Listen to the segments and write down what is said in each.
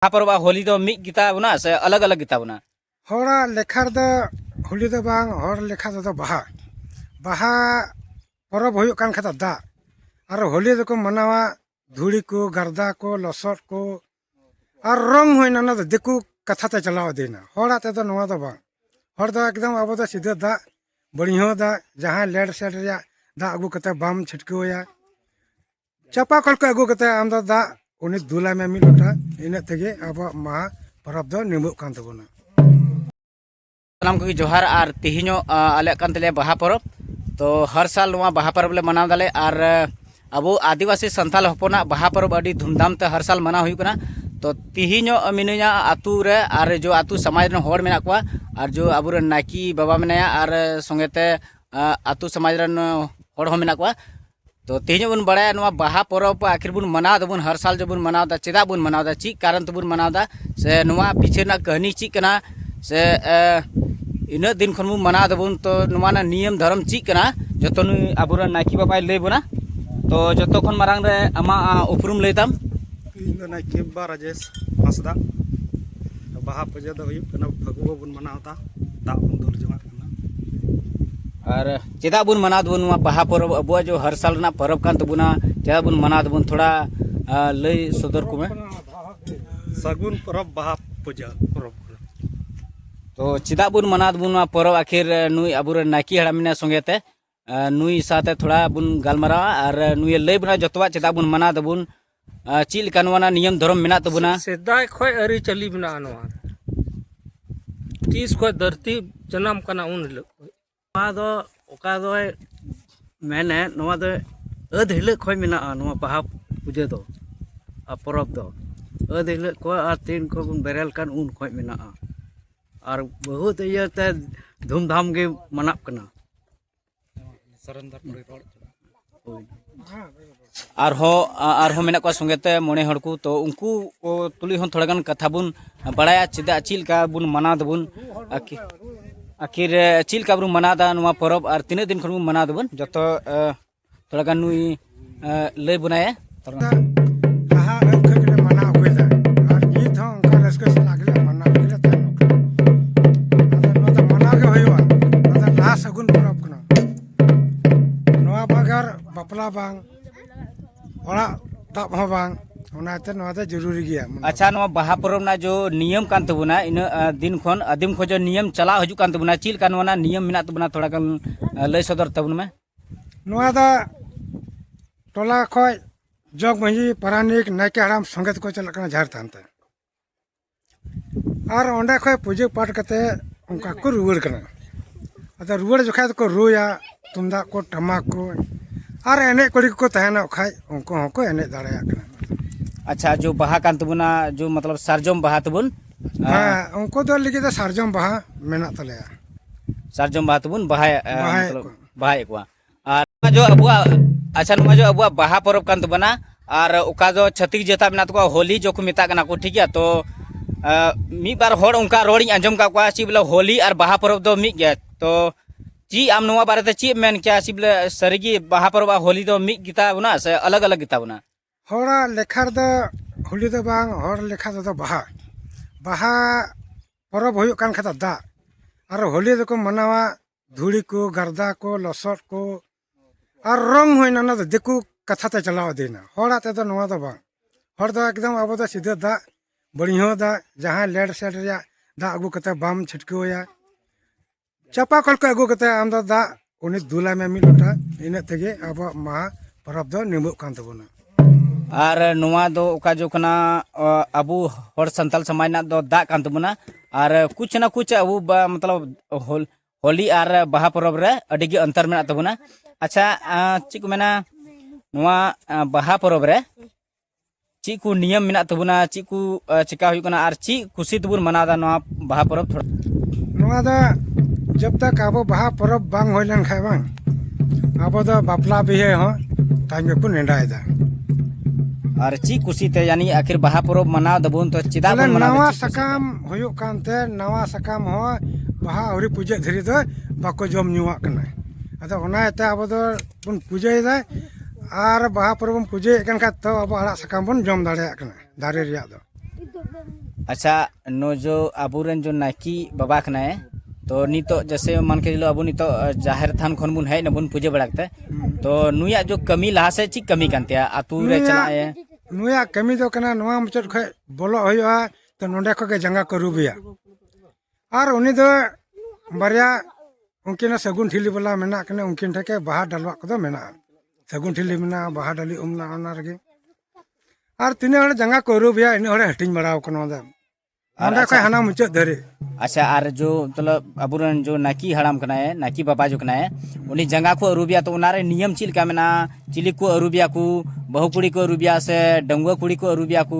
ᱵᱟᱦᱟ ᱯᱚᱨᱚᱵᱽ ᱟᱨ ᱦᱳᱞᱤ ᱫᱚ ᱢᱤᱫ ᱜᱮᱛᱟ ᱵᱚᱱᱟ ᱥᱮ ᱟᱞᱟᱜᱽ ᱟᱞᱟᱜᱽ ᱜᱮᱛᱟ ᱵᱚᱱᱟ ᱦᱚᱲᱟᱜ ᱞᱮᱠᱷᱟ ᱨᱮᱫᱚ ᱦᱳᱞᱤ ᱫᱚ ᱵᱟᱝ ᱦᱚᱲ ᱞᱮᱠᱷᱟ ᱛᱮᱫᱚ ᱵᱟᱦᱟ ᱵᱟᱦᱟ ᱯᱚᱨᱚᱵᱽ ᱦᱩᱭᱩᱜ ᱠᱟᱱ ᱠᱷᱟᱱ ᱫᱚ ᱫᱟᱜ ᱟᱨ ᱦᱳᱞᱤ ᱫᱚᱠᱚ ᱢᱟᱱᱟᱣᱟ ᱫᱷᱩᱲᱤ ᱠᱚ ᱜᱟᱨᱫᱟ ᱠᱚ ᱞᱚᱥᱚᱫ ᱠᱚ ᱟᱨ ᱨᱚᱝ ᱦᱩᱭᱱᱟ ᱚᱱᱟ ᱫᱚ ᱫᱤᱠᱩ ᱠᱟᱛᱷᱟ ᱛᱮ ᱪᱟᱞᱟᱣ ᱤᱫᱤᱭᱮᱱᱟ ᱦᱚᱲᱟᱜ ᱛᱮᱫᱚ ᱱᱚᱣᱟ ᱫᱚ ᱵᱟᱝ ᱦᱚᱲ ᱫᱚ ᱮᱠᱫᱚᱢ ᱟᱵᱚ ᱫᱚ ᱥᱤᱫᱷᱟᱹ ᱫᱟᱜ ᱵᱟᱹᱲᱤᱦᱚᱸ ᱫᱟᱜ ᱡᱟᱦᱟᱸ ᱞᱮᱰ ᱥᱮᱰ ᱨᱮᱭᱟᱜ ᱫᱟᱜ ᱟᱹᱜᱩ ᱠᱟᱛᱮ ᱵᱟᱢ ᱪᱷᱤᱴᱠᱟᱹᱣᱟᱭᱟ ᱪᱟᱯᱟ ᱠᱚᱞ ᱠᱚ ᱟᱹᱜᱩ ᱠᱟᱛᱮ ᱟᱢ ᱫᱚ ᱫᱟᱜ ᱩᱱᱤ ᱫᱩᱞᱟᱭ ᱢᱮ ᱢᱤᱫ ᱞᱚᱴᱟ ᱤᱱᱟᱹᱜ ᱛᱮᱜᱮ ᱟᱵᱚᱣᱟᱜ ᱢᱟᱦᱟ ᱯᱚᱨᱚᱵᱽ ᱫᱚ ᱱᱤᱢᱟᱹᱜ ᱠᱟᱱ ᱛᱟᱵᱚᱱᱟ ᱥᱟᱱᱟᱢ ᱠᱚᱜᱮ ᱡᱚᱦᱟᱨ ᱟᱨ ᱛᱮᱦᱮᱧᱚᱜ ᱟᱞᱮᱭᱟᱜ ᱠᱟᱱ ᱛᱟᱞᱮᱭᱟ ᱵᱟᱦᱟ ᱯᱚᱨᱚᱵᱽ ᱛᱚ ᱦᱟᱨ ᱥᱟᱞ ᱱᱚᱣᱟ ᱵᱟᱦᱟ ᱯᱚᱨᱚᱵᱽ ᱞᱮ ᱢᱟᱱᱟᱣ ᱫᱟᱞᱮ ᱟᱨ ᱟᱵᱚ ᱟᱹᱫᱤᱵᱟᱹᱥᱤ ᱥᱟᱱᱛᱟᱞ ᱦᱚᱯᱚᱱᱟᱜ ᱵᱟᱦᱟ ᱯᱚᱨᱚᱵᱽ ᱟᱹᱰᱤ ᱫᱷᱩᱢᱫᱷᱟᱢ ᱛᱮ ᱦᱟᱨ ᱥᱟᱞ ᱢᱟᱱᱟᱣ ᱦᱩᱭᱩᱜ ᱠᱟᱱᱟ ᱛᱚ ᱛᱮᱦᱮᱧᱚᱜ ᱢᱤᱱᱟᱹᱧᱟ ᱟᱛᱳ ᱨᱮ ᱟᱨ ᱡᱚ ᱟᱛᱳ ᱥᱚᱢᱟᱡᱽ ᱨᱮᱱ ᱦᱚᱲ ᱢᱮᱱᱟᱜ ᱠᱚᱣᱟ ᱟᱨ ᱡᱚ ᱟᱵᱚᱨᱮᱱ ᱱᱟᱭᱠᱤ ᱵᱟᱵᱟ ᱢᱮᱱᱟᱭᱟ ᱟᱨ ᱥᱚᱸᱜᱮᱛᱮ ᱟᱛᱳ ᱥᱚᱢᱟᱡᱽ ᱨᱮᱱ ᱦᱚᱲ ᱦᱚᱸ ᱢᱮᱱᱟᱜ ᱠᱚᱣᱟ ᱛᱚ ᱛᱮᱦᱮᱧ ᱵᱚᱱ ᱵᱟᱲᱟᱭᱟ ᱱᱚᱣᱟ ᱵᱟᱦᱟ ᱯᱚᱨᱚᱵᱽ ᱟᱹᱠᱷᱤᱨ ᱵᱚᱱ ᱢᱟᱱᱟᱣ ᱫᱟᱵᱚᱱ ᱦᱟᱨ ᱥᱟᱞ ᱡᱮᱵᱚᱱ ᱢᱟᱱᱟᱣ ᱫᱟ ᱪᱮᱫᱟᱜ ᱵᱚᱱ ᱢᱟᱱᱟᱣ ᱫᱟ ᱪᱮᱫ ᱠᱟᱨᱚᱱ ᱛᱮᱵᱚᱱ ᱢᱟᱱᱟᱣ ᱫᱟ ᱥᱮ ᱱᱚᱣᱟ ᱯᱤᱪᱷᱮ ᱨᱮᱱᱟᱜ ᱠᱟᱹᱦᱱᱤ ᱪᱮᱫ ᱠᱟᱱᱟ ᱥᱮ ᱤᱱᱟᱹᱜ ᱫᱤᱱ ᱠᱷᱚᱱ ᱵᱚᱱ ᱢᱟᱱᱟᱣ ᱫᱟᱵᱚᱱ ᱛᱚ ᱱᱚᱣᱟ ᱨᱮᱱᱟᱜ ᱱᱤᱭᱚᱢ ᱫᱷᱚᱨᱚᱢ ᱪᱮᱫ ᱠᱟᱱᱟ ᱡᱚᱛᱚ ᱱᱩᱭ ᱟᱵᱚᱨᱮᱱ ᱱᱟᱭᱠᱮ ᱵᱟᱵᱟᱭ ᱞᱟᱹᱭ ᱵᱚᱱᱟ ᱛᱚ ᱡᱚᱛᱚ ᱠᱷᱚᱱ ᱢᱟᱨᱟᱝ ᱨᱮ ᱟᱢᱟᱜ ᱩᱯᱨᱩᱢ ᱞᱟᱹᱭ ᱛᱟᱢ ᱤᱧ ᱫᱚ ᱱᱟᱭᱠᱮ ᱵᱟᱵᱟ ᱨᱟᱡᱮᱥ ᱦᱟᱸᱥᱫᱟ ᱵᱟᱦᱟ ᱯᱩᱡᱟᱹ ᱫᱚ ᱦᱩᱭᱩᱜ ᱠᱟᱱᱟ ᱯᱷᱟᱹᱜᱩᱣᱟᱹ ᱵᱚᱱ ᱢᱟᱱᱟᱣ ᱫᱟ ᱫᱟᱜ ᱵᱚᱱ ᱫᱩᱞ ᱡᱚᱝᱟᱜ ᱠᱟᱱᱟ ᱟᱨ ᱪᱮᱫᱟᱜ ᱵᱚᱱ ᱢᱟᱱᱟᱣ ᱫᱟᱵᱚᱱ ᱱᱚᱣᱟ ᱵᱟᱦᱟ ᱯᱚᱨᱚᱵᱽ ᱟᱵᱚᱣᱟᱜ ᱡᱚ ᱦᱟᱨ ᱥᱟᱞ ᱨᱮᱱᱟᱜ ᱯᱚᱨᱚᱵᱽ ᱠᱟᱱ ᱛᱟᱵᱚᱱᱟ ᱪᱮᱫᱟᱜ ᱵᱚᱱ ᱢᱟᱱᱟᱣ ᱫᱟᱵᱚᱱ ᱛᱷᱚᱲᱟ ᱞᱟᱹᱭ ᱥᱚᱫᱚᱨ ᱠᱚᱢᱮ ᱥᱟᱹᱜᱩᱱ ᱯᱚᱨᱚᱵᱽ ᱵᱟᱦᱟ ᱯᱩᱡᱟᱹ ᱯᱚᱨᱚᱵᱽ ᱛᱚ ᱪᱮᱫᱟᱜ ᱵᱚᱱ ᱢᱟᱱᱟᱣ ᱫᱟᱵᱚᱱ ᱱᱚᱣᱟ ᱯᱚᱨᱚᱵᱽ ᱟᱹᱠᱷᱤᱨ ᱱᱩᱭ ᱟᱵᱚᱨᱮᱱ ᱱᱟᱭᱠᱮ ᱦᱟᱲᱟᱢ ᱢᱮᱱᱟᱭ ᱥᱚᱸᱜᱮ ᱛᱮ ᱱᱩᱭ ᱥᱟᱶᱛᱮ ᱛᱷᱚᱲᱟ ᱵᱚᱱ ᱜᱟᱞᱢᱟᱨᱟᱣᱟ ᱟᱨ ᱱᱩᱭ ᱞᱟᱹᱭ ᱵᱚᱱᱟ ᱡᱚᱛᱚᱣᱟᱜ ᱪᱮᱫᱟᱜ ᱵᱚᱱ ᱢᱟᱱᱟᱣ ᱫᱟᱵᱚᱱ ᱪᱮᱫ ᱞᱮᱠᱟ ᱱᱚᱣᱟ ᱱᱤᱭᱚᱢ ᱫᱷᱚᱨᱚᱢ ᱢᱮᱱᱟᱜ ᱛᱟᱵᱚᱱᱟ ᱥᱮᱫᱟᱭ ᱠᱷᱚᱱ ᱟᱹᱨᱤᱪᱟᱹᱞᱤ ᱢᱮᱱᱟᱜᱼᱟ ᱱᱚᱣᱟ ᱛᱤᱥ ᱠᱷᱚᱱ ᱫᱷᱟᱹᱨᱛᱤ ᱡᱟᱱᱟᱢ ᱠᱟᱱᱟ ᱩᱱ ᱦᱤᱞᱳᱜ ᱱᱚᱣᱟ ᱫᱚ ᱚᱠᱟ ᱫᱚᱭ ᱢᱮᱱᱮᱫ ᱱᱚᱣᱟ ᱫᱚ ᱟᱹᱫ ᱦᱤᱞᱳᱜ ᱠᱷᱚᱱ ᱢᱮᱱᱟᱜᱼᱟ ᱱᱚᱣᱟ ᱵᱟᱦᱟ ᱯᱩᱡᱟᱹ ᱫᱚ ᱟᱨ ᱯᱚᱨᱚᱵᱽ ᱫᱚ ᱟᱹᱫ ᱦᱤᱞᱳᱜ ᱠᱷᱚᱱ ᱟᱨ ᱛᱤᱱ ᱠᱷᱚᱱ ᱵᱚᱱ ᱵᱮᱨᱮᱞ ᱠᱟᱱ ᱩᱱ ᱠᱷᱚᱱ ᱢᱮᱱᱟᱜᱼᱟ ᱟᱨ ᱵᱚᱦᱩᱛ ᱤᱭᱟᱹᱛᱮ ᱫᱷᱩᱢᱫᱷᱟᱢ ᱜᱮ ᱢᱟᱱᱟᱜ ᱠᱟᱱᱟ ᱟᱨᱦᱚᱸ ᱟᱨᱦᱚᱸ ᱢᱮᱱᱟᱜ ᱠᱚᱣᱟ ᱥᱚᱸᱜᱮᱛᱮ ᱢᱚᱬᱮ ᱦᱚᱲ ᱠᱚ ᱛᱚ ᱩᱱᱠᱩ ᱛᱩᱞᱩᱡ ᱦᱚᱸ ᱛᱷᱚᱲᱟ ᱜᱟᱱ ᱠᱟᱛᱷᱟ ᱵᱚᱱ ᱵᱟᱲᱟᱭᱟ ᱪᱮᱫᱟᱜ ᱪᱮᱫ ᱞᱮᱠᱟ ᱵᱚᱱ ᱢᱟᱱᱟᱣ ᱫᱟᱵᱚᱱ ᱟᱨᱠᱤ ᱟᱹᱠᱷᱤᱨ ᱪᱮᱫ ᱞᱮᱠᱟ ᱵᱚᱱ ᱢᱟᱱᱟᱣ ᱮᱫᱟ ᱱᱚᱣᱟ ᱯᱚᱨᱚᱵᱽ ᱟᱨ ᱛᱤᱱᱟᱹᱜ ᱫᱤᱱ ᱠᱷᱚᱱ ᱵᱚᱱ ᱢᱟᱱᱟᱣ ᱫᱟᱵᱚᱱ ᱡᱚᱛᱚ ᱛᱷᱚᱲᱟ ᱜᱟᱱ ᱱᱩᱭ ᱞᱟᱹᱭ ᱵᱚᱱᱟᱭ ᱵᱟᱯᱞᱟ ᱵᱟᱝ ᱚᱲᱟᱜ ᱫᱟᱵ ᱦᱚᱸ ᱵᱟᱝ ᱚᱱᱟᱛᱮ ᱱᱚᱣᱟ ᱫᱚ ᱡᱚᱨᱩᱨᱤ ᱜᱮᱭᱟ ᱟᱪᱪᱷᱟ ᱱᱚᱣᱟ ᱵᱟᱦᱟ ᱯᱚᱨᱚᱵᱽ ᱨᱮᱱᱟᱜ ᱡᱚ ᱱᱤᱭᱚᱢ ᱠᱟᱱ ᱛᱟᱵᱚᱱᱟ ᱤᱱᱟᱹ ᱫᱤᱱ ᱠᱷᱚᱱ ᱟᱹᱫᱤᱢ ᱠᱷᱚᱱ ᱱᱤᱭᱚᱢ ᱪᱟᱞᱟᱣ ᱦᱤᱡᱩᱜ ᱠᱟᱱ ᱛᱟᱵᱚᱱᱟ ᱪᱮᱫ ᱞᱮᱠᱟ ᱱᱚᱣᱟ ᱱᱤᱭᱚᱢ ᱢᱮᱱᱟᱜ ᱛᱟᱵᱚᱱᱟ ᱛᱷᱚᱲᱟ ᱜᱟᱱ ᱞᱟᱹᱭ ᱥᱚᱫᱚᱨ ᱛᱟᱵᱚᱱ ᱢᱮ ᱱᱚᱣᱟ ᱫᱚ ᱴᱚᱞᱟ ᱠᱷᱚᱡ ᱡᱚᱜᱽ ᱢᱟᱺᱡᱷᱤ ᱯᱟᱨᱟᱱᱤᱠ ᱱᱟᱭᱠᱮ ᱦᱟᱲᱟᱢ ᱥᱚᱸᱜᱮ ᱛᱮᱠᱚ ᱪᱟᱞᱟᱜ ᱠᱟᱱᱟ ᱡᱟᱦᱮᱨ ᱛᱷᱟᱱ ᱛᱮ ᱟᱨ ᱚᱸᱰᱮ ᱠᱷᱚᱡ ᱯᱩᱡᱟᱹ ᱯᱟᱴ ᱠᱟᱛᱮ ᱚᱱᱠᱟ ᱠᱚ ᱨᱩᱣᱟᱹᱲ ᱠᱟᱱᱟ ᱟᱫᱚ ᱨᱩᱣᱟᱹᱲ ᱡᱚᱠᱷᱟᱡ ᱫᱚᱠᱚ ᱨᱩᱭᱟ ᱛᱩᱢᱫᱟᱜ ᱠᱚ ᱴᱟᱢᱟᱠ ᱠᱚ ᱟᱨ ᱮᱱᱮᱡ ᱠᱩᱲᱤ ᱠᱚᱠᱚ ᱛᱟᱦᱮᱱᱟ ᱠᱷᱟᱡ ᱩᱱᱠᱩ ᱦᱚᱸᱠᱚ ᱮᱱᱮᱡ ᱫᱟᱲᱮᱭᱟᱜ ᱠᱟᱱᱟ ᱟᱪᱪᱷᱟ ᱡᱚ ᱵᱟᱦᱟ ᱠᱟᱱ ᱛᱟᱵᱚᱱᱟ ᱡᱚ ᱢᱚᱛᱞᱚᱵ ᱥᱟᱨᱡᱚᱢ ᱵᱟᱦᱟ ᱛᱟᱵᱚᱱ ᱦᱮᱸ ᱩᱱᱠᱩ ᱫᱚ ᱞᱟᱹᱜᱤᱫ ᱫᱚ ᱥᱟᱨᱡᱚᱢ ᱵᱟᱦᱟ ᱢᱮᱱᱟᱜ ᱛᱟᱞᱮᱭᱟ ᱥᱟᱨᱡᱚᱢ ᱵᱟᱦᱟ ᱛᱮᱵᱚᱱ ᱵᱟᱦᱟᱭᱟ ᱵᱟᱦᱟᱭᱮᱫ ᱠᱚᱣᱟ ᱟᱨ ᱡᱚ ᱟᱵᱚᱣᱟᱜ ᱟᱪᱪᱷᱟ ᱱᱚᱣᱟ ᱡᱚ ᱟᱵᱚᱣᱟᱜ ᱵᱟᱦᱟ ᱯᱚᱨᱚᱵᱽ ᱠᱟᱱ ᱛᱟᱵᱚᱱᱟ ᱟᱨ ᱚᱠᱟ ᱫᱚ ᱪᱷᱟᱹᱛᱤᱠ ᱡᱟᱹᱛᱟ ᱢᱮᱱᱟᱜ ᱛᱟᱠᱚᱣᱟ ᱦᱳᱞᱤ ᱡᱚ ᱠᱚ ᱢᱮᱛᱟᱜ ᱠᱟᱱᱟ ᱠᱚ ᱴᱷᱤᱠ ᱜᱮᱭᱟ ᱛᱚ ᱢᱤᱫ ᱵᱟᱨ ᱦᱚᱲ ᱚᱱᱠᱟ ᱨᱚᱲᱤᱧ ᱟᱸᱡᱚᱢ ᱠᱟᱜ ᱠᱚᱣᱟ ᱪᱮᱫ ᱵᱚᱞᱮ ᱦᱳᱞᱤ ᱟᱨ ᱵᱟᱦᱟ ᱯᱚᱨᱚᱵᱽ ᱫᱚ ᱢᱤᱫ ᱜᱮᱭᱟ ᱛᱚ ᱪᱮᱫ ᱟᱢ ᱱᱚᱣᱟ ᱵᱟᱨᱮᱛᱮ ᱪᱮᱫ ᱮᱢ ᱢᱮᱱ ᱠᱮᱭᱟ ᱪᱮᱫ ᱵᱚᱞᱮ ᱥᱟᱹᱨᱤᱜᱮ ᱵᱟᱦᱟ ᱯᱚᱨᱚᱵᱽ ᱟᱨ ᱦᱳᱞᱤ ᱫᱚ ᱢᱤᱫ ᱜᱮᱛᱟ ᱵᱚᱱᱟ ᱥᱮ ᱟᱞᱟᱜᱽ ᱟᱞᱟᱜᱽ ᱜᱮᱛᱟ ᱵᱚᱱᱟ ᱦᱚᱲᱟᱜ ᱞᱮᱠᱷᱟ ᱨᱮᱫᱚ ᱦᱳᱞᱤ ᱫᱚ ᱵᱟᱝ ᱦᱚᱲ ᱞᱮᱠᱷᱟ ᱛᱮᱫᱚ ᱵᱟᱦᱟ ᱵᱟᱦᱟ ᱯᱚᱨᱚᱵᱽ ᱦᱩᱭᱩᱜ ᱠᱟᱱ ᱠᱷᱟᱡ ᱫᱚ ᱫᱟᱜ ᱟᱨ ᱦᱳᱞᱤ ᱫᱚᱠᱚ ᱢᱟᱱᱟᱣᱟ ᱫᱷᱩᱲᱤ ᱠᱚ ᱜᱟᱨᱫᱟ ᱠᱚ ᱞᱚᱥᱚᱫ ᱠᱚ ᱟᱨ ᱨᱚᱝ ᱦᱩᱭᱱᱟ ᱚᱱᱟ ᱫᱚ ᱫᱤᱠᱩ ᱠᱟᱛᱷᱟ ᱛᱮ ᱪᱟᱞᱟᱣ ᱤᱫᱤᱭᱮᱱᱟ ᱦᱚᱲᱟᱜ ᱛᱮᱫᱚ ᱱᱚᱣᱟ ᱫᱚ ᱵᱟᱝ ᱦᱚᱲ ᱫᱚ ᱮᱠᱫᱚᱢ ᱟᱵᱚ ᱫᱚ ᱥᱤᱫᱷᱟᱹ ᱫᱟᱜ ᱵᱟᱹᱲᱤᱦᱟᱹ ᱫᱟᱜ ᱡᱟᱦᱟᱸ ᱞᱮᱰ ᱥᱮᱰ ᱨᱮᱭᱟᱜ ᱫᱟᱜ ᱟᱹᱜᱩ ᱠᱟᱛᱮᱫ ᱵᱟᱢ ᱪᱷᱤᱴᱠᱟᱹᱣ ᱟᱭᱟ ᱪᱟᱯᱟ ᱠᱚᱞ ᱠᱚ ᱟᱹᱜᱩ ᱠᱟᱛᱮ ᱟᱢ ᱫᱚ ᱫᱟᱜ ᱩᱱᱤ ᱫᱩᱞᱟᱭ ᱢᱮ ᱢᱤᱫ ᱞᱚᱴᱟ ᱤᱱᱟᱹᱜ ᱛᱮᱜᱮ ᱟᱵᱚᱣᱟᱜ ᱢᱟᱦᱟ ᱯᱚᱨᱚᱵᱽ ᱫᱚ ᱱᱤᱢᱟᱹᱜ ᱠᱟᱱ ᱛᱟᱵᱚᱱᱟ ᱟᱨ ᱱᱚᱣᱟ ᱫᱚ ᱚᱠᱟ ᱡᱚ ᱠᱟᱱᱟ ᱟᱵᱚ ᱦᱚᱲ ᱥᱟᱱᱛᱟᱞ ᱥᱚᱢᱟᱡᱽ ᱨᱮᱱᱟᱜ ᱫᱚ ᱫᱟᱜ ᱠᱟᱱ ᱛᱟᱵᱚᱱᱟ ᱟᱨ ᱠᱩᱪ ᱱᱟ ᱠᱩᱪ ᱟᱵᱚ ᱢᱚᱛᱞᱚᱵ ᱦᱚᱞ ᱦᱳᱞᱤ ᱟᱨ ᱵᱟᱦᱟ ᱯᱚᱨᱚᱵᱽ ᱨᱮ ᱟᱹᱰᱤ ᱜᱮ ᱚᱱᱛᱚᱨ ᱢᱮᱱᱟᱜ ᱛᱟᱵᱚᱱᱟ ᱟᱪᱪᱷᱟ ᱪᱮᱫ ᱠᱚ ᱢᱮᱱᱟ ᱱᱚᱣᱟ ᱵᱟᱦᱟ ᱯᱚᱨᱚᱵᱽ ᱨᱮ ᱪᱮᱫ ᱠᱚ ᱱᱤᱭᱚᱢ ᱢᱮᱱᱟᱜ ᱛᱟᱵᱚᱱᱟ ᱪᱮᱫ ᱠᱚ ᱪᱮᱠᱟ ᱦᱩᱭᱩᱜ ᱠᱟᱱᱟ ᱟᱨ ᱪᱮᱫ ᱠᱩᱥᱤ ᱛᱮᱵᱚᱱ ᱢᱟᱱᱟᱣᱫᱟ ᱱᱚᱣᱟ ᱵᱟᱦᱟ ᱯᱚᱨᱚᱵᱽ ᱛᱷᱚᱲᱟ ᱱᱚᱣᱟ ᱫᱚ ᱡᱚᱵ ᱛᱚᱠ ᱟᱵᱚ ᱵᱟᱦᱟ ᱯᱚᱨᱚᱵᱽ ᱵᱟᱝ ᱦᱩᱭ ᱞᱮᱱᱠᱷᱟᱱ ᱵᱟᱝ ᱟᱵᱚ ᱫᱚ ᱵᱟᱯᱞᱟ ᱵᱤᱦᱟᱹ ᱦᱚᱸ ᱛᱟᱭᱚᱢ ᱜᱮᱠᱚ ᱱᱮᱰᱟᱭᱮᱫᱟ ᱟᱨ ᱪᱮᱫ ᱠᱩᱥᱤᱛᱮ ᱭᱟᱱᱤ ᱟᱹᱠᱷᱤᱨ ᱵᱟᱦᱟ ᱯᱚᱨᱚᱵᱽ ᱢᱟᱱᱟᱣ ᱫᱟᱵᱚᱱ ᱛᱚ ᱪᱮᱫᱟᱜ ᱵᱚᱱ ᱢᱟᱱᱟᱣ ᱱᱟᱣᱟ ᱥᱟᱠᱟᱢ ᱦᱩᱭᱩᱜ ᱠᱟᱱᱛᱮ ᱱᱟᱣᱟ ᱥᱟᱠᱟᱢ ᱦᱚᱸ ᱵᱟᱦᱟ ᱟᱹᱣᱨᱤ ᱯᱩᱡᱟᱹᱜ ᱫᱷᱤᱨᱤ ᱫᱚ ᱵᱟᱠᱚ ᱡᱚᱢ ᱧᱩᱣᱟᱜ ᱠᱟᱱᱟ ᱟᱫᱚ ᱚᱱᱟ ᱤᱭᱟᱹᱛᱮ ᱟᱵᱚ ᱫᱚ ᱵᱚᱱ ᱯᱩᱡᱟᱹᱭᱮᱫᱟ ᱟᱨ ᱵᱟᱦᱟ ᱯᱚᱨᱚᱵᱽ ᱵᱚᱱ ᱯᱩᱡᱟᱹᱭᱮᱫ ᱠᱟᱱ ᱠᱷᱟᱡ ᱛᱚ ᱟᱵᱚ ᱟᱲᱟᱜ ᱥᱟᱠᱟᱢ ᱵᱚᱱ ᱡᱚᱢ ᱫᱟᱲᱮᱭᱟᱜ ᱠᱟᱱᱟ ᱫᱟᱨᱮ ᱨᱮᱭᱟᱜ ᱫᱚ ᱟᱪᱪᱷᱟ ᱱᱚ ᱡᱚ ᱟᱵᱚᱨᱮᱱ ᱡᱚ ᱱᱟᱭᱠᱤ ᱵᱟᱵᱟ ᱠᱟᱱᱟᱭ ᱛᱚ ᱱᱤᱛᱚᱜ ᱡᱮᱥᱮ ᱢᱟᱱ ᱠᱮ ᱪᱚᱞᱚ ᱟᱵᱚ ᱱᱤᱛᱚᱜ ᱡᱟᱦᱮᱨ ᱛᱷᱟᱱ ᱠᱷᱚᱱ ᱵᱚᱱ ᱦᱮᱡ ᱱᱟᱵᱚᱱ ᱯᱩᱡᱟᱹ ᱵᱟᱲᱟ ᱠᱟᱛᱮ ᱛᱚ ᱱᱩᱭᱟᱜ ᱡᱚ ᱠᱟᱹᱢᱤ ᱞᱟᱦᱟ ᱥᱮᱫ ᱪᱮᱫ ᱠᱟᱹᱢᱤ ᱠᱟᱱ ᱛᱟᱭᱟ ᱟᱛᱳ ᱨᱮ ᱪᱟᱞᱟᱜ ᱮ ᱱᱩᱭᱟᱜ ᱠᱟᱹᱢᱤ ᱫᱚ ᱠᱟᱱᱟ ᱱᱚᱣᱟ ᱢᱩᱪᱟᱹᱫ ᱠᱷᱚᱡ ᱵᱚᱞᱚᱜ ᱦᱩᱭᱩᱜᱼᱟ ᱛᱚ ᱱᱚᱸᱰᱮ ᱠᱷᱚᱡ ᱜᱮ ᱡᱟᱸᱜᱟ ᱠᱚ ᱟᱹᱨᱩᱵᱮᱭᱟ ᱟᱨ ᱩᱱᱤ ᱫᱚ ᱵᱟᱨᱭᱟ ᱩᱱᱠᱤᱱᱟᱜ ᱥᱟᱹᱜᱩᱱ ᱴᱷᱤᱞᱤ ᱵᱟᱞᱟ ᱢᱮᱱᱟᱜ ᱠᱤᱱᱟ ᱩᱱᱠᱤᱱ ᱴᱷᱮᱱ ᱜᱮ ᱵᱟᱦᱟ ᱰᱟᱞᱣᱟᱜ ᱠᱚᱫᱚ ᱢᱮᱱᱟᱜᱼᱟ ᱥᱟᱹᱜᱩᱱ ᱴᱷᱤᱞᱤ ᱢᱮᱱᱟᱜᱼᱟ ᱵᱟᱦᱟ ᱰᱟᱹᱞᱤ ᱩᱢ ᱢᱮᱱᱟᱜᱼᱟ ᱚᱱᱟ ᱨᱮᱜᱮ ᱟᱨ ᱛᱤᱱᱟᱹᱜ ᱦᱚᱲ ᱡᱟᱸᱜᱟ ᱠᱚ ᱟᱹᱨᱩᱵᱮᱭᱟ ᱤᱱᱟᱹᱜ ᱦᱚᱲᱮ ᱦᱟᱹᱴᱤᱧ ᱵᱟᱲᱟᱣ ᱠᱟᱱᱟ ᱚᱸᱰᱮ ᱚᱸᱰᱮ ᱠᱷᱚᱱ ᱦᱟᱱᱟ ᱢᱩᱪᱟᱹᱫ ᱫᱷᱟᱹᱨᱤᱡ ᱟᱪᱪᱷᱟ ᱟᱨ ᱡᱚ ᱢᱚᱛᱞᱚᱵ ᱟᱵᱚᱨᱮᱱ ᱡᱚ ᱱᱟᱭᱠᱤ ᱦᱟᱲᱟᱢ ᱠᱟᱱᱟᱭ ᱱᱟᱭᱠᱤ ᱵᱟᱵᱟ ᱡᱚ ᱠᱟᱱᱟᱭ ᱩᱱᱤ ᱡᱟᱸᱜᱟ ᱠᱚ ᱟᱹᱨᱩᱵᱮᱭᱟ ᱛᱚ ᱚᱱᱟᱨᱮ ᱱᱤᱭᱚᱢ ᱪᱮᱫ ᱞᱮᱠᱟ ᱢᱮᱱᱟᱜᱼᱟ ᱪᱤᱞᱤ ᱠᱚ ᱟᱹᱨᱩᱵᱮᱭᱟ ᱠᱚ ᱵᱟᱹᱦᱩ ᱠᱩᱲᱤ ᱠᱚ ᱟᱹᱨᱩᱵᱮᱭᱟ ᱥᱮ ᱰᱟᱺᱜᱩᱣᱟᱹ ᱠᱩᱲᱤ ᱠᱚ ᱟᱹᱨᱩᱵᱮᱭᱟ ᱠᱚ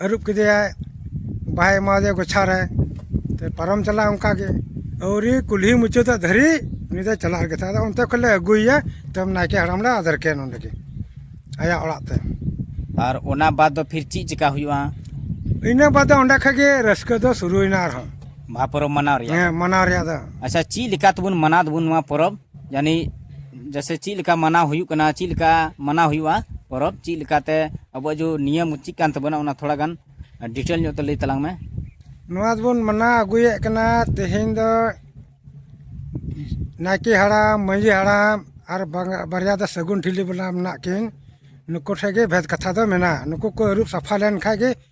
ᱟᱹᱨᱩᱵ ᱠᱮᱫᱮᱭᱟᱭ ᱵᱟᱦᱟᱭ ᱮᱢᱟ ᱫᱮᱭᱟ ᱜᱚᱪᱷᱟ ᱨᱮ ᱯᱟᱨᱚᱢ ᱪᱟᱞᱟᱜ ᱟᱭ ᱚᱱᱠᱟᱜᱮ ᱟᱹᱣᱨᱤ ᱠᱩᱞᱦᱤ ᱢᱩᱪᱟᱹᱫᱚᱜ ᱫᱷᱟᱹᱨᱤᱡ ᱩᱱᱤ ᱫᱚᱭ ᱪᱟᱞᱟᱜ ᱜᱮ ᱛᱟᱦᱮᱸᱫ ᱟᱫᱚ ᱚᱱᱛᱮ ᱠᱷᱚᱱᱞᱮ ᱟᱹᱜᱩᱭᱮᱭᱟ ᱛᱟᱭᱚᱢ ᱱᱟᱭᱠᱮ ᱦᱟᱲᱟᱢ ᱞᱮ ᱟᱫᱮᱨ ᱠᱟᱭᱟ ᱱᱚᱰᱮ ᱜᱮ ᱟᱭᱟᱜ ᱚᱲᱟᱜ ᱛᱮ ᱟᱨ ᱚᱱᱟ ᱵᱟᱫ ᱫᱚ ᱯᱷᱤᱨ ᱪᱮᱫ ᱪᱮᱠᱟ ᱦᱩᱭᱩᱜᱼᱟ ᱤᱱᱟᱹ ᱵᱟᱫ ᱫᱚ ᱚᱸᱰᱮ ᱠᱷᱚᱱ ᱜᱮ ᱨᱟᱹᱥᱠᱟᱹ ᱫᱚ ᱥᱩᱨᱩᱭᱮᱱᱟ ᱟᱨᱦᱚᱸ ᱵᱟᱦᱟ ᱯᱚᱨᱚᱵᱽ ᱢᱟᱱᱟᱣ ᱨᱮᱭᱟᱜ ᱦᱮᱸ ᱢᱟᱱᱟᱣ ᱨᱮᱭᱟᱜ ᱫᱚ ᱟᱪᱪᱷᱟ ᱪᱮᱫ ᱞᱮᱠᱟ ᱛᱮᱵᱚᱱ ᱢᱟᱱᱟᱣ ᱫᱟᱵᱚᱱ ᱱᱚᱣᱟ ᱯᱚᱨᱚᱵᱽ ᱡᱟᱹᱱᱤᱡ ᱡᱮᱥᱮ ᱪᱮᱫ ᱞᱮᱠᱟ ᱢᱟᱱᱟᱣ ᱦᱩᱭᱩᱜ ᱠᱟᱱᱟ ᱪᱮᱫ ᱞᱮᱠᱟ ᱢᱟᱱᱟᱣ ᱦᱩᱭᱩᱜᱼᱟ ᱯᱚᱨᱚᱵᱽ ᱪᱮᱫ ᱞᱮᱠᱟᱛᱮ ᱟᱵᱚᱣᱟᱜ ᱡᱮ ᱱᱤᱭᱚᱢ ᱪᱮᱫ ᱠᱟᱱ ᱛᱟᱵᱚᱱᱟ ᱚᱱᱟ ᱛᱷᱚᱲᱟ ᱜᱟᱱ ᱰᱤᱴᱮᱞ ᱧᱚᱜ ᱛᱮ ᱞᱟᱹᱭ ᱛᱟᱞᱟᱝ ᱢᱮ ᱱᱚᱣᱟ ᱫᱚᱵᱚᱱ ᱢᱟᱱᱟᱣ ᱟᱹᱜᱩᱭᱮᱫ ᱠᱟᱱᱟ ᱛᱮᱦᱮᱧ ᱫᱚ ᱱᱟᱭᱠᱮ ᱦᱟᱲᱟᱢ ᱢᱟᱺᱡᱷᱤ ᱦᱟᱲᱟᱢ ᱟᱨ ᱵᱟᱨᱭᱟ ᱫᱚ ᱥᱟᱹᱜᱩᱱ ᱴᱷᱤᱞᱤ ᱵᱟᱞᱟ ᱢᱮᱱᱟᱜ ᱠᱤᱱ ᱱᱩᱠᱩ ᱴᱷᱮᱱ ᱜᱮ ᱵᱷᱮᱫ ᱠᱟᱛᱷᱟ ᱫᱚ ᱢᱮᱱᱟᱜᱼᱟ ᱱᱩᱠᱩ ᱠᱚ ᱟᱹᱨᱩᱵ ᱥᱟᱯᱷᱟ ᱞᱮᱱᱠᱷᱟᱱ ᱜᱮ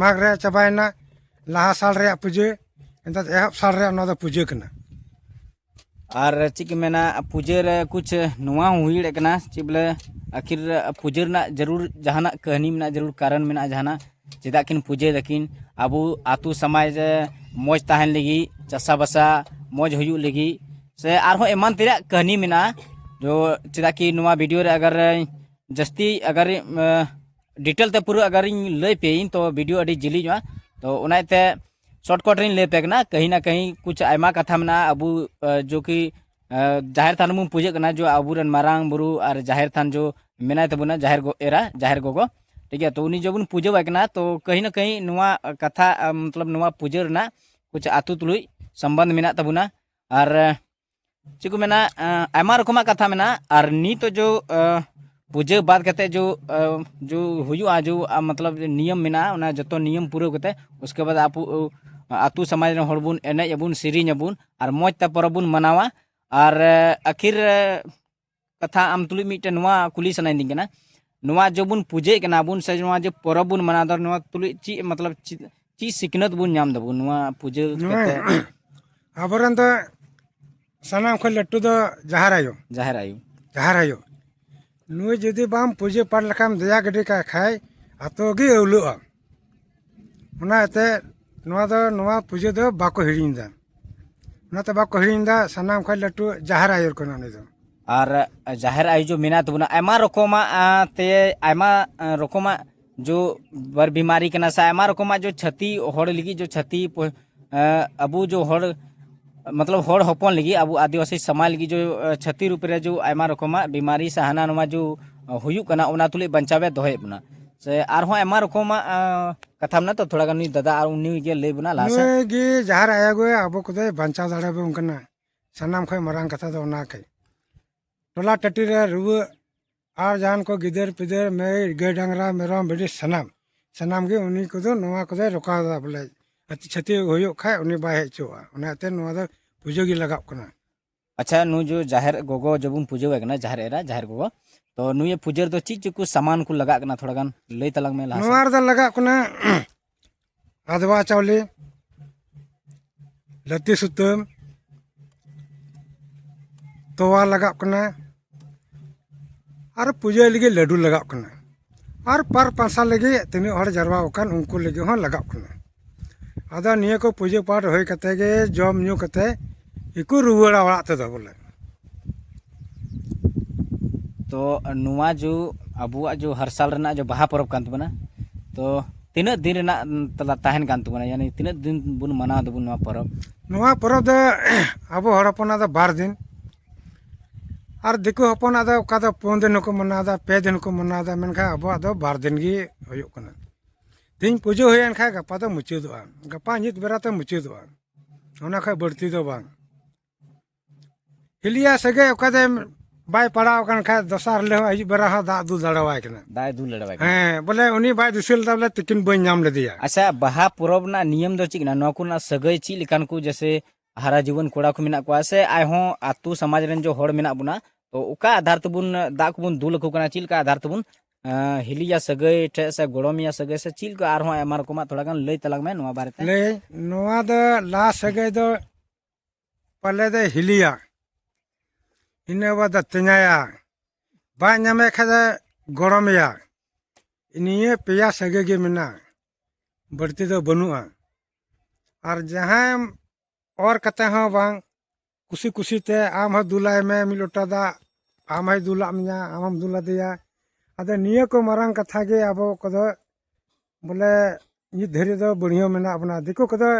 ᱢᱟᱜᱽ ᱨᱮᱭᱟᱜ ᱪᱟᱵᱟᱭᱮᱱᱟ ᱞᱟᱦᱟ ᱥᱟᱞ ᱨᱮᱭᱟᱜ ᱯᱩᱡᱟᱹ ᱮᱱᱛᱮᱫ ᱮᱦᱚᱵ ᱥᱟᱞ ᱨᱮᱭᱟᱜ ᱱᱚᱣᱟ ᱫᱚ ᱯᱩᱡᱟᱹ ᱠᱟᱱᱟ ᱟᱨ ᱪᱮᱫ ᱠᱚ ᱢᱮᱱᱟ ᱯᱩᱡᱟᱹ ᱨᱮ ᱠᱩᱪ ᱱᱚᱣᱟ ᱦᱚᱸ ᱦᱩᱭ ᱫᱟᱲᱮᱭᱟᱜ ᱠᱟᱱᱟ ᱪᱮᱫ ᱵᱚᱞᱮ ᱟᱹᱠᱷᱤᱨ ᱯᱩᱡᱟᱹ ᱨᱮᱱᱟᱜ ᱡᱟᱹᱨᱩᱲ ᱡᱟᱦᱟᱱᱟᱜ ᱠᱟᱹᱦᱱᱤ ᱢᱮᱱᱟᱜᱼᱟ ᱡᱟᱹᱨᱩᱲ ᱠᱟᱨᱚᱱ ᱢᱮᱱᱟᱜᱼᱟ ᱡᱟᱦᱟᱱᱟᱜ ᱪᱮᱫᱟᱜ ᱠᱤᱱ ᱯᱩᱡᱟᱹᱭ ᱫᱟᱹᱠᱤᱱ ᱟᱵᱚ ᱟᱛᱳ ᱥᱚᱢᱟᱡᱽ ᱨᱮ ᱢᱚᱡᱽ ᱛᱟᱦᱮᱱ ᱞᱟᱹᱜᱤᱫ ᱪᱟᱥᱟᱵᱟᱥᱟ ᱢᱚᱡᱽ ᱦᱩᱭᱩᱜ ᱞᱟᱹᱜᱤᱫ ᱥᱮ ᱟᱨᱦᱚᱸ ᱮᱢᱟᱱ ᱛᱮᱭᱟᱜ ᱠᱟᱹᱦᱱᱤ ᱢᱮᱱᱟᱜᱼᱟ ᱡᱚ ᱪᱮᱫᱟᱜ ᱠᱤ ᱱᱚᱣᱟ ᱵᱷᱤᱰᱤᱭᱳ ᱨᱮ ᱟᱜᱟᱨ ᱡᱟᱹᱥᱛᱤ ᱟᱜᱟᱨ ᱰᱤᱴᱮᱞ ᱛᱮ ᱯᱩᱨᱟᱹ ᱟᱜᱟᱨᱤᱧ ᱞᱟᱹᱭ ᱯᱮᱭᱟᱹᱧ ᱛᱚ ᱵᱷᱤᱰᱤᱭᱳ ᱟᱹᱰᱤ ᱡᱤᱞᱤᱧᱚᱜᱼᱟ ᱛᱚ ᱚᱱᱟ ᱤᱭᱟᱹᱛᱮ ᱥᱚᱨᱴᱠᱟᱴ ᱨᱤᱧ ᱞᱟᱹᱭ ᱯᱮ ᱠᱟᱱᱟ ᱠᱟᱹᱦᱤ ᱱᱟ ᱠᱟᱹᱦᱤ ᱠᱩᱪ ᱟᱭᱢᱟ ᱠᱟᱛᱷᱟ ᱢᱮᱱᱟᱜᱼᱟ ᱟᱵᱚ ᱡᱚ ᱠᱤ ᱡᱟᱦᱮᱨ ᱛᱷᱟᱱ ᱵᱚᱱ ᱯᱩᱡᱟᱹᱜ ᱠᱟᱱᱟ ᱡᱚ ᱟᱵᱚᱨᱮᱱ ᱢᱟᱨᱟᱝ ᱵᱩᱨᱩ ᱟᱨ ᱡᱟᱦᱮᱨ ᱛᱷᱟᱱ ᱡᱚ ᱢᱮᱱᱟᱭ ᱛᱟᱵᱚᱱᱟ ᱡᱟᱦᱮᱨ ᱮᱨᱟ ᱡᱟᱦᱮᱨ ᱜᱚᱜᱚ ᱴᱷᱤᱠ ᱜᱮᱭᱟ ᱛᱚ ᱩᱱᱤ ᱡᱚ ᱵᱚᱱ ᱯᱩᱡᱟᱹᱣᱟᱭ ᱠᱟᱱᱟ ᱛᱚ ᱠᱟᱹᱦᱤ ᱱᱟ ᱠᱟᱹᱦᱤ ᱱᱚᱣᱟ ᱠᱟᱛᱷᱟ ᱢᱚᱛᱞᱚᱵ ᱱᱚᱣᱟ ᱯᱩᱡᱟᱹ ᱨᱮᱱᱟᱜ ᱠᱩᱪ ᱟᱛᱳ ᱛᱩᱞᱩᱡ ᱥᱚᱢᱵᱚᱱᱫᱷ ᱢᱮᱱᱟᱜ ᱛᱟᱵᱚᱱᱟ ᱟᱨ ᱪᱮᱫ ᱠᱚ ᱢᱮᱱᱟ ᱟᱭᱢᱟ ᱨᱚᱠᱚᱢᱟᱜ ᱠᱟᱛᱷᱟ ᱢᱮᱱᱟᱜᱼᱟ ᱟᱨ ᱱᱤᱛᱚᱜ ᱡᱚ ᱯᱩᱡᱟᱹ ᱵᱟᱫ ᱠᱟᱛᱮ ᱡᱚ ᱡᱚ ᱦᱩᱭᱩᱜᱼᱟ ᱡᱚ ᱢᱚᱛᱞᱚᱵ ᱱᱤᱭᱚᱢ ᱢᱮᱱᱟᱜᱼᱟ ᱚᱱᱟ ᱡᱚᱛᱚ ᱱᱤᱭᱚᱢ ᱯᱩᱨᱟᱹᱣ ᱠᱟᱛᱮ ᱩᱥᱠᱮ ᱵᱟᱫ ᱟᱯᱩ ᱟᱛᱳ ᱥᱚᱢᱟᱡᱽ ᱨᱮᱱ ᱦᱚᱲ ᱵᱚᱱ ᱮᱱᱮᱡ ᱟᱵᱚᱱ ᱥᱮᱨᱮᱧ ᱟᱵᱚᱱ ᱟᱨ ᱢᱚᱡᱽ ᱛᱮ ᱯᱚᱨᱚᱵᱽ ᱵᱚᱱ ᱢᱟᱱᱟᱣᱟ ᱟᱨ ᱟᱹᱠᱷᱤᱨ ᱠᱟᱛᱷᱟ ᱟᱢ ᱛᱩᱞᱩᱡ ᱢᱤᱫᱴᱮᱱ ᱱᱚᱣᱟ ᱠᱩᱞᱤ ᱥᱟᱱᱟᱭᱤᱫᱤᱧ ᱠᱟᱱᱟ ᱱᱚᱣᱟ ᱡᱮ ᱵᱚᱱ ᱯᱩᱡᱟᱹᱭᱮᱫ ᱠᱟᱱᱟ ᱵᱚᱱ ᱥᱮ ᱱᱚᱣᱟ ᱡᱮ ᱯᱚᱨᱚᱵᱽ ᱵᱚᱱ ᱢᱟᱱᱟᱣ ᱮᱫᱟ ᱱᱚᱣᱟ ᱛᱩᱞᱩᱡ ᱪᱮᱫ ᱢᱚᱛᱞᱚᱵ ᱪᱮᱫ ᱪᱮᱫ ᱥᱤᱠᱷᱱᱟᱹᱛ ᱵᱚᱱ ᱧᱟᱢ ᱫᱟᱵᱚᱱ ᱱᱚᱣᱟ ᱯᱩᱡᱟᱹ ᱠᱟᱛᱮ ᱟᱵᱚᱨᱮᱱ ᱫᱚ ᱥᱟᱱᱟᱢ ᱠᱷᱚᱱ ᱞᱟᱹᱴᱩ ᱫᱚ ᱡᱟᱦᱮᱨ ᱟᱭᱳ ᱡᱟᱦᱮᱨ ᱟᱭᱳ ᱡᱟᱦᱮᱨ ᱟᱭᱳ ᱱᱩᱭ ᱡᱩᱫᱤ ᱵᱟᱢ ᱯᱩᱡᱟᱹ ᱯᱟᱴ ᱞᱮᱠᱷᱟᱱ ᱫᱮᱭᱟ ᱜᱤᱰᱤ ᱠᱟᱭ ᱠᱷᱟᱡ ᱟᱛᱳ ᱜᱮ ᱟᱹᱣᱞᱟᱹᱜᱼᱟ ᱚᱱᱟ ᱤᱭᱟᱹᱛᱮ ᱱᱚᱣᱟ ᱫᱚ ᱱᱚᱣᱟ ᱯᱩᱡᱟᱹ ᱫᱚ ᱵᱟᱠᱚ ᱦᱤᱲᱤᱧ ᱮᱫᱟ ᱚᱱᱟᱛᱮ ᱵᱟᱠᱚ ᱦᱤᱲᱤᱧ ᱮᱫᱟ ᱥᱟᱱᱟᱢ ᱠᱷᱚᱱ ᱞᱟᱹᱴᱩ ᱡᱟᱦᱮᱨ ᱟᱭᱳ ᱠᱟᱱᱟ ᱩᱱᱤ ᱫᱚ ᱟᱨ ᱡᱟᱦᱮᱨ ᱟᱭᱳ ᱡᱚ ᱢᱮᱱᱟᱭ ᱛᱟᱵᱚᱱᱟ ᱟᱭᱢᱟ ᱨᱚᱠᱚᱢᱟᱜ ᱛᱮ ᱟᱭᱢᱟ ᱨᱚᱠᱚᱢᱟᱜ ᱡᱚ ᱵᱟᱨ ᱵᱤᱢᱟᱨᱤ ᱠᱟᱱᱟ ᱥᱮ ᱟᱭᱢᱟ ᱨᱚᱠᱚᱢᱟᱜ ᱡᱚ ᱪᱷᱟᱹᱛᱤ ᱦᱚᱲ ᱞᱟᱹᱜᱤᱫ ᱡᱚ ᱪᱷᱟᱹᱛᱤ ᱟᱵᱚ ᱡᱚ ᱦᱚᱲ ᱢᱚᱛᱞᱚᱵ ᱦᱚᱲ ᱦᱚᱯᱚᱱ ᱞᱟᱹᱜᱤᱫ ᱟᱵᱚ ᱟᱹᱫᱤᱵᱟᱹᱥᱤ ᱥᱚᱢᱟᱡᱽ ᱞᱟᱹᱜᱤᱫ ᱡᱚ ᱪᱷᱟᱹᱛᱤ ᱨᱩᱯ ᱨᱮ ᱡᱚ ᱟᱭᱢᱟ ᱨᱚᱠᱚᱢᱟᱜ ᱵᱤᱢᱟᱨᱤ ᱥᱮ ᱦᱟᱱᱟ ᱱᱚᱣᱟ ᱡᱚ ᱦᱩᱭᱩᱜ ᱠᱟᱱᱟ ᱚᱱᱟ ᱛᱩᱞᱩᱡ ᱵᱟᱧᱪᱟᱣᱮ ᱫᱚᱦᱚᱭᱮᱫ ᱵᱚᱱᱟ ᱥᱮ ᱟᱨᱦᱚᱸ ᱟᱭᱢᱟ ᱨᱚᱠᱚᱢᱟᱜ ᱠᱟᱛᱷᱟ ᱢᱮᱱᱟᱜᱼᱟ ᱛᱚ ᱛᱷᱚᱲᱟ ᱜᱟᱱ ᱱᱩᱭ ᱫᱟᱫᱟ ᱟᱨ ᱩᱱᱤ ᱜᱮ ᱞᱟᱹᱭ ᱵᱚᱱᱟ ᱞᱟᱦᱟ ᱥᱮᱫ ᱱᱩᱭ ᱜᱮ ᱡᱟᱦᱟᱸ ᱨᱮ ᱟᱭᱟᱜᱚ ᱟᱵᱚ ᱠᱚᱫᱚᱭ ᱵᱟᱧᱪᱟᱣ ᱫᱟᱲᱮᱭᱟᱵᱚᱱ ᱠᱟᱱᱟ ᱥᱟᱱᱟᱢ ᱠᱷᱚᱱ ᱢᱟᱨᱟᱝ ᱠᱟᱛᱷᱟ ᱫᱚ ᱚᱱᱟ ᱠᱟᱱᱟ ᱴᱚᱞᱟ ᱴᱟᱹᱴᱤ ᱨᱮ ᱨᱩᱣᱟᱹᱜ ᱟᱨ ᱡᱟᱦᱟᱱ ᱠᱚ ᱜᱤᱫᱟᱹᱨ ᱯᱤᱫᱟᱹᱨ ᱢᱟᱹᱭ ᱜᱟᱹᱭ ᱰᱟᱝᱨᱟ ᱢᱮᱨᱚᱢ ᱵᱷᱤᱰᱤ ᱥᱟᱱᱟᱢ ᱥᱟᱱᱟᱢ ᱜᱮ ᱩᱱᱤ ᱠᱚᱫᱚ ᱱᱚᱣᱟ ᱠᱚᱫᱚᱭ ᱨᱚᱠᱟᱣ ᱮᱫᱟ ᱵᱚᱞᱮ ᱟᱹᱛᱩ ᱪᱷᱟᱹᱛᱤᱠ ᱦᱩᱭᱩᱜ ᱠᱷᱟᱱ ᱩᱱᱤ ᱵᱟᱭ ᱦᱮᱡ ᱦᱚᱪᱚᱣᱟᱜᱼᱟ ᱚᱱᱟᱛᱮ ᱱᱚᱣᱟ ᱫᱚ ᱯᱩᱡᱟᱹ ᱜᱮ ᱞᱟᱜᱟᱜ ᱠᱟᱱᱟ ᱟᱪᱪᱷᱟ ᱱᱩᱭ ᱡᱚ ᱡᱟᱦᱮᱨ ᱜᱚᱜᱚ ᱡᱚᱵᱚᱱ ᱯᱩᱡᱟᱹᱣᱟᱭ ᱠᱟᱱᱟ ᱡᱟᱦᱮᱨ ᱮᱨᱟ ᱡᱟᱦᱮᱨ ᱜᱚᱜᱚ ᱛᱚ ᱱᱩᱭ ᱯᱩᱡᱟᱹ ᱨᱮᱫᱚ ᱪᱮᱫ ᱪᱮᱫ ᱠᱚ ᱥᱟᱢᱟᱱ ᱠᱚ ᱞᱟᱜᱟᱜ ᱠᱟᱱᱟ ᱛᱷᱚᱲᱟ ᱜᱟᱱ ᱞᱟᱹᱭ ᱛᱟᱞᱟᱝ ᱢᱮ ᱞᱟᱦᱟ ᱱᱚᱣᱟ ᱨᱮᱫᱚ ᱞᱟᱜᱟᱜ ᱠᱟᱱᱟ ᱟᱫᱽᱣᱟ ᱪᱟᱣᱞᱮ ᱞᱟᱹᱛᱤ ᱥᱩᱛᱟᱹᱢ ᱛᱚᱣᱟ ᱞᱟᱜᱟᱜ ᱠᱟᱱᱟ ᱟᱨ ᱯᱩᱡᱟᱹᱭ ᱞᱟᱹᱜᱤᱫ ᱞᱟᱹᱰᱩ ᱞᱟᱜᱟᱜ ᱠᱟᱱᱟ ᱟᱨ ᱯᱟᱨ ᱯᱟᱥᱟ ᱞᱟᱹᱜᱤᱫ ᱛᱤᱱᱟᱹᱜ ᱦᱚᱲ ᱡᱟᱨᱣᱟ ᱟᱠᱟᱱ ᱩᱱᱠᱩ ᱞᱟᱹᱜᱤᱫ ᱦᱚᱸ ᱞᱟᱜᱟᱜ ᱠᱟᱱᱟ ᱟᱫᱚ ᱱᱤᱭᱟᱹ ᱠᱚ ᱯᱩᱡᱟᱹ ᱯᱟᱴ ᱦᱩᱭ ᱠᱟᱛᱮ ᱜᱮ ᱡᱚᱢ ᱧᱩ ᱠᱟᱛᱮ ᱜᱮᱠᱚ ᱨᱩᱣᱟᱹᱲᱟ ᱚᱲᱟᱜ ᱛᱮᱫᱚ ᱵᱚᱞᱮ ᱛᱚ ᱱᱚᱣᱟ ᱡᱚ ᱟᱵᱚᱣᱟᱜ ᱡᱚ ᱦᱟᱨ ᱥᱟᱞ ᱨᱮᱱᱟᱜ ᱡᱚ ᱵᱟᱦᱟ ᱯᱚᱨᱚᱵᱽ ᱠᱟᱱ ᱛᱟᱵᱚᱱᱟ ᱛᱚ ᱛᱤᱱᱟᱹᱜ ᱫᱤᱱ ᱨᱮᱱᱟᱜ ᱛᱟᱞᱟ ᱛᱟᱦᱮᱱ ᱠᱟᱱ ᱛᱟᱵᱚᱱᱟ ᱭᱟᱱᱤ ᱛᱤᱱᱟᱹᱜ ᱫᱤᱱ ᱵᱚᱱ ᱢᱟᱱᱟᱣ ᱫᱟᱵᱚᱱ ᱱᱚᱣᱟ ᱯᱚᱨᱚᱵᱽ ᱱᱚᱣᱟ ᱯᱚᱨᱚᱵᱽ ᱫᱚ ᱟᱵᱚ ᱦᱚᱲ ᱦᱚᱯᱚᱱᱟᱜ ᱫᱚ ᱵᱟᱨ ᱫᱤᱱ ᱟᱨ ᱫᱤᱠᱩ ᱦᱚᱯᱚᱱᱟᱜ ᱫᱚ ᱚᱠᱟ ᱫᱚ ᱯᱩᱱ ᱫᱤᱱ ᱦᱚᱸᱠᱚ ᱢᱟᱱᱟᱣᱫᱟ ᱯᱮ ᱫᱤᱱ ᱦᱚᱸᱠᱚ ᱢᱟᱱᱟᱣᱫᱟ ᱢᱮᱱᱠᱷᱟᱱ ᱟᱵᱚᱣᱟᱜ ᱫᱚ ᱵᱟᱨ ᱫᱤᱱ ᱜᱮ ᱦᱩᱭᱩᱜ ᱠᱟᱱᱟ ᱛᱮᱦᱮᱧ ᱯᱩᱡᱟᱹ ᱦᱩᱭᱮᱱ ᱠᱷᱟᱱ ᱜᱟᱯᱟ ᱫᱚ ᱢᱩᱪᱟᱹᱫᱚᱜᱼᱟ ᱜᱟᱯᱟ ᱧᱩᱛ ᱵᱮᱲᱟ ᱛᱮ ᱢᱩᱪᱟᱹᱫᱚᱜᱼᱟ ᱚᱱᱟ ᱠᱷᱚᱱ ᱵᱟᱹᱲᱛᱤ ᱫᱚ ᱵᱟᱝ ᱦᱤᱞᱤᱭᱟ ᱥᱟᱹᱜᱟᱹᱭ ᱚᱠᱟ ᱫᱚ ᱵᱟᱭ ᱯᱟᱲᱟᱣ ᱟᱠᱟᱱ ᱠᱷᱟᱡ ᱫᱚᱥᱟᱨ ᱦᱤᱞᱳᱜ ᱦᱚᱸ ᱟᱹᱭᱩᱵ ᱵᱮᱲᱟ ᱦᱚᱸ ᱫᱟᱜ ᱫᱩᱞ ᱫᱟᱲᱮᱣᱟᱭ ᱠᱟᱱᱟ ᱫᱟᱜ ᱫᱩᱞ ᱫᱟᱲᱮᱣᱟᱭ ᱠᱟᱱᱟ ᱦᱮᱸ ᱵᱚᱞᱮ ᱩᱱᱤ ᱵᱟᱭ ᱫᱤᱥᱟᱹ ᱞᱮᱫᱟ ᱵᱚᱞᱮ ᱛᱤᱠᱤᱱ ᱵᱟᱹᱧ ᱧᱟᱢ ᱞᱮᱫᱮᱭᱟ ᱟᱪᱪᱷᱟ ᱵᱟᱦᱟ ᱯᱚᱨᱚᱵᱽ ᱨᱮᱱᱟᱜ ᱱᱤᱭᱚᱢ ᱫᱚ ᱪᱮᱫ ᱠᱟᱱᱟ ᱱᱚᱣᱟ ᱠᱚᱨᱮᱱᱟᱜ ᱥᱟᱹᱜᱟᱹᱭ ᱪᱮᱫ ᱞᱮᱠᱟᱱ ᱠᱚ ᱡᱮᱥᱮ ᱦᱟᱨᱟ ᱡᱩᱣᱟᱹᱱ ᱠᱚᱲᱟ ᱠᱚ ᱢᱮᱱᱟᱜ ᱠᱚᱣᱟ ᱥᱮ ᱟᱨᱦᱚᱸ ᱟᱛᱳ ᱥᱚᱢᱟᱡᱽ ᱨᱮᱱ ᱡᱚ ᱦᱚᱲ ᱢᱮᱱᱟᱜ ᱵᱚᱱᱟ ᱛᱚ ᱚᱠᱟ ᱟᱫᱷᱟᱨ ᱛᱮᱵᱚᱱ ᱫᱟᱜ ᱠᱚᱵᱚᱱ ᱫᱩᱞ ᱟᱠᱚ ᱠᱟᱱᱟ ᱪᱮᱫ ᱞᱮᱠᱟ ᱟᱫᱷᱟᱨ ᱛᱮᱵᱚᱱ ᱦᱤᱞᱤᱭᱟ ᱥᱟᱹᱜᱟᱹᱭ ᱴᱷᱮᱡ ᱥᱮ ᱜᱚᱲᱚᱢᱤᱭᱟ ᱥᱟᱹᱜᱟᱹᱭ ᱥᱮ ᱪᱮᱫ ᱞᱮᱠᱟ ᱟᱨᱦᱚᱸ ᱟᱭᱢᱟ ᱨᱚᱠᱚᱢᱟᱜ ᱛᱷᱚᱲᱟ ᱜᱟᱱ ᱞᱟᱹᱭ ᱛᱟᱞᱟᱝ ᱢᱮ ᱱᱚᱣᱟ ᱵᱟᱨᱮᱛᱮ ᱞᱟᱹᱭ ᱱᱚᱣᱟ ᱫᱚ ᱞᱟᱦᱟ ᱥᱟᱹᱜᱟᱹᱭ ᱫᱚ ᱯᱟᱞᱮ ᱫᱚᱭ ᱦᱤᱞᱤᱭᱟ ᱤᱱᱟᱹ ᱵᱟᱫ ᱫᱚ ᱛᱮᱧᱟᱭᱟ ᱵᱟᱭ ᱧᱟᱢᱮ ᱠᱷᱟᱡ ᱫᱚ ᱜᱚᱲᱚᱢᱮᱭᱟ ᱱᱤᱭᱟᱹ ᱯᱮᱭᱟ ᱥᱟᱹᱜᱟᱹᱭ ᱜᱮ ᱢᱮᱱᱟᱜᱼᱟ ᱵᱟᱹᱲᱛᱤ ᱫᱚ ᱵᱟᱹᱱᱩᱜᱼᱟ ᱟᱨ ᱡᱟᱦᱟᱸᱭᱮᱢ ᱚᱨ ᱠᱟᱛᱮ ᱦᱚᱸ ᱵᱟᱝ ᱠᱩᱥᱤ ᱠᱩᱥᱤᱛᱮ ᱟᱢ ᱦᱚᱸ ᱫᱩᱞᱟᱭ ᱢᱮ ᱢᱤᱫ ᱞᱚᱴᱟ ᱫᱟᱜ ᱟᱢ ᱦᱚᱸᱭ ᱫᱩᱞᱟᱜ ᱢᱮᱭᱟ ᱟᱢ ᱦᱚᱸᱢ ᱫᱩᱞ ᱟᱫᱮᱭᱟ ᱟᱫᱚ ᱱᱤᱭᱟᱹ ᱠᱚ ᱢᱟᱨᱟᱝ ᱠᱟᱛᱷᱟ ᱜᱮ ᱟᱵᱚ ᱠᱚᱫᱚ ᱵᱚᱞᱮ ᱱᱤᱛ ᱫᱷᱟᱹᱨᱤᱡ ᱫᱚ ᱵᱟᱹᱲᱤᱭᱟᱹ ᱢᱮᱱᱟᱜ ᱵᱚᱱᱟ ᱫᱤᱠᱩ ᱠᱚᱫᱚ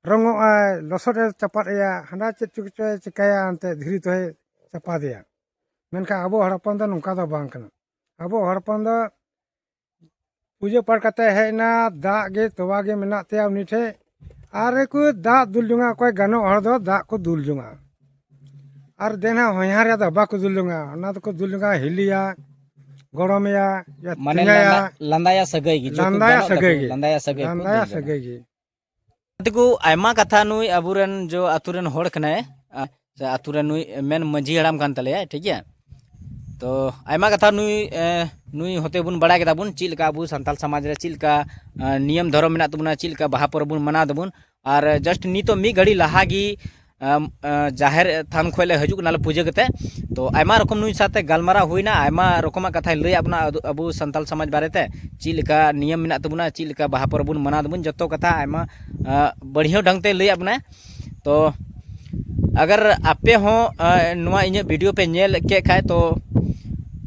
ᱨᱚᱝᱚᱜ ᱟᱭ ᱞᱚᱥᱚᱫ ᱮ ᱪᱟᱯᱟᱫ ᱮᱭᱟ ᱦᱟᱸᱰᱟ ᱪᱮᱫ ᱪᱚ ᱠᱚᱪᱚᱭ ᱪᱤᱠᱟᱹᱭᱟ ᱮᱱᱛᱮᱫ ᱫᱷᱤᱨᱤ ᱛᱮᱦᱚᱸᱭ ᱪᱟᱯᱟᱫᱮᱭᱟ ᱢᱮᱱᱠᱷᱟᱱ ᱟᱵᱚ ᱦᱚᱲ ᱦᱚᱯᱚᱱ ᱫᱚ ᱱᱚᱝᱠᱟ ᱫᱚ ᱵᱟᱝ ᱠᱟᱱᱟ ᱟᱵᱚ ᱦᱚᱲ ᱦᱚᱯᱚᱱ ᱫᱚ ᱯᱩᱡᱟᱹ ᱯᱟᱴ ᱠᱟᱛᱮᱫ ᱦᱮᱡ ᱮᱱᱟ ᱫᱟᱜ ᱜᱮ ᱛᱚᱣᱟ ᱜᱮ ᱢᱮᱱᱟᱜ ᱛᱟᱭᱟ ᱩᱱᱤ ᱴᱷᱮᱱ ᱟᱨ ᱠᱚ ᱫᱟᱜ ᱫᱩᱞ ᱡᱚᱝᱟᱜᱼᱟ ᱚᱠᱚᱭ ᱜᱟᱱᱚᱜ ᱦᱚᱲ ᱫᱚ ᱫᱟᱜ ᱠᱚ ᱫᱩᱞ ᱡᱚᱝᱟᱜᱼᱟ ᱟᱨ ᱫᱮᱱᱟ ᱦᱚᱧᱦᱟᱨ ᱨᱮᱭᱟᱜ ᱫᱚ ᱵᱟᱠᱚ ᱫᱩᱞ ᱡᱚᱝᱟᱜᱼᱟ ᱚᱱᱟ ᱫᱚᱠᱚ ᱫᱩᱞ ᱡᱚᱝᱟᱜᱼᱟ ᱦᱤᱞᱤᱭᱟ ᱜᱚᱲᱚᱢᱮᱭᱟ ᱢᱟᱱᱮ ᱞᱟᱸᱫᱟᱭᱟ ᱥᱟᱹᱜᱟᱹᱭ ᱜᱮ ᱞᱟᱸᱫᱟᱭᱟ ᱥᱟᱹᱜᱟᱹᱭ ᱜᱮ ᱞᱟᱸᱫᱟᱭᱟ ᱥᱟᱹᱜᱟᱹᱭ ᱞᱟᱸᱫᱟᱭᱟ ᱥᱟᱹᱜᱟᱹᱭ ᱜᱮ ᱛᱮᱠᱚ ᱟᱭᱢᱟ ᱠᱟᱛᱷᱟ ᱱᱩᱭ ᱟᱵᱚᱨᱮᱱ ᱡᱚ ᱟᱛᱳ ᱨᱮᱱ ᱦᱚᱲ ᱠᱟᱱᱟᱭ ᱥᱮ ᱟᱛᱳ ᱨᱮ ᱱᱩᱭ ᱢᱮᱱ ᱢᱟᱺᱡᱷᱤ ᱦᱟᱲᱟᱢ ᱠᱟᱱ ᱛᱟᱞᱮᱭᱟᱭ ᱴᱷᱤᱠ ᱜᱮᱭᱟ ᱛᱚ ᱟᱭᱢᱟ ᱠᱟᱛᱷᱟ ᱱᱩᱭ ᱱᱩᱭ ᱦᱚᱛᱮ ᱵᱚᱱ ᱵᱟᱲᱟᱭ ᱠᱮᱫᱟ ᱵᱚᱱ ᱪᱮᱫ ᱞᱮᱠᱟ ᱟᱵᱚ ᱥᱟᱱᱛᱟᱞ ᱥᱚᱢᱟᱡᱽ ᱨᱮ ᱪᱮᱫ ᱞᱮᱠᱟ ᱱᱤᱭᱚᱢ ᱫᱷᱚᱨᱚᱢ ᱢᱮᱱᱟᱜ ᱛᱟᱵᱚᱱᱟ ᱪᱮᱫ ᱞᱮᱠᱟ ᱵᱟᱦᱟ ᱯᱚᱨᱚᱵᱽ ᱵᱚᱱ ᱢᱟᱱᱟᱣ ᱫᱟᱵᱚᱱ ᱟᱨ ᱡᱟᱥᱴ ᱱᱤᱛᱚᱜ ᱢᱤᱫ ᱜᱷᱟᱹᱲᱤ ᱞᱟᱦᱟ ᱜᱮ ᱡᱟᱦᱮᱨ ᱛᱷᱟᱱ ᱠᱷᱚᱱ ᱞᱮ ᱦᱤᱡᱩᱜ ᱠᱟᱱᱟ ᱞᱮ ᱯᱩᱡᱟᱹ ᱠᱟᱛᱮ ᱛᱚ ᱟᱭᱢᱟ ᱨᱚᱠᱚᱢ ᱱᱩᱭ ᱥᱟᱛᱮ ᱜᱟᱞᱢᱟᱨᱟᱣ ᱦᱩᱭᱱᱟ ᱟᱭᱢᱟ ᱨᱚᱠᱚᱢᱟᱜ ᱠᱟᱛᱷᱟᱭ ᱞᱟᱹᱭᱟᱫ ᱵᱚᱱᱟ ᱟᱵᱚ ᱥᱟᱱᱛᱟᱞ ᱥᱚᱢᱟᱡᱽ ᱵᱟᱨᱮᱛᱮ ᱪᱮᱫ ᱞᱮᱠᱟ ᱱᱤᱭᱚᱢ ᱢᱮᱱᱟᱜ ᱛᱟᱵᱚᱱᱟ ᱪᱮᱫ ᱞᱮᱠᱟ ᱵᱟᱦᱟ ᱯᱚᱨᱚᱵᱽ ᱵᱚᱱ ᱢᱟᱱᱟᱣ ᱫᱟᱵᱚᱱ ᱡᱚᱛᱚ ᱠᱟᱛᱷᱟ ᱟᱭᱢᱟ ᱵᱟᱹᱲᱤᱭᱟᱹ ᱰᱷᱚᱝ ᱛᱮᱭ ᱞᱟᱹᱭᱟᱫ ᱵᱚᱱᱟᱭ ᱛᱚ ᱟᱜᱟᱨ ᱟᱯᱮ ᱦᱚᱸ ᱱᱚᱣᱟ ᱤᱧᱟᱹᱜ ᱵᱷᱤᱰᱤᱭᱳ ᱯᱮ ᱧᱮᱞ ᱠᱮᱫ ᱠᱷᱟᱡ ᱛᱚ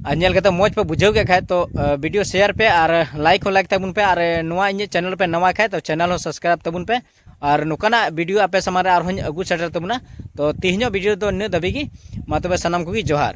ᱟᱨ ᱧᱮᱞ ᱠᱟᱛᱮ ᱢᱚᱡᱽ ᱯᱮ ᱵᱩᱡᱷᱟᱹᱣ ᱠᱮᱫ ᱠᱷᱟᱡ ᱛᱚ ᱵᱷᱤᱰᱤᱭᱳ ᱥᱮᱭᱟᱨ ᱯᱮ ᱟᱨ ᱞᱟᱭᱤᱠ ᱦᱚᱸ ᱞᱟᱭᱤᱠ ᱛᱟᱵᱚᱱ ᱯᱮ ᱟᱨ ᱱᱚᱣᱟ ᱤᱧᱟᱹᱜ ᱪᱮᱱᱮᱞ ᱯᱮ ᱱᱟᱣᱟ ᱠᱷᱟᱡ ᱛᱚ ᱪᱮᱱᱮᱞ ᱦᱚᱸ ᱥᱟᱵᱥᱠᱨᱟᱭᱤᱵ ᱛᱟᱵᱚᱱ ᱯᱮ ᱟᱨ ᱱᱚᱝᱠᱟᱱᱟᱜ ᱵᱷᱤᱰᱤᱭᱳ ᱟᱯᱮ ᱥᱟᱢᱟᱝ ᱨᱮ ᱟᱨᱦᱚᱸᱧ ᱟᱹᱜᱩ ᱥᱮᱴᱮᱨ ᱛᱟᱵᱚᱱᱟ ᱛᱚ ᱛᱮᱦᱮᱧᱚᱜ ᱵᱷᱤᱰᱤᱭᱳ ᱫᱚ ᱱᱤᱱᱟᱹᱜ ᱫᱷᱟᱹᱵᱤᱡ ᱜᱮ ᱢᱟ ᱛᱚᱵᱮ ᱥᱟᱱᱟᱢ ᱠᱚᱜᱮ ᱡᱚᱦᱟᱨ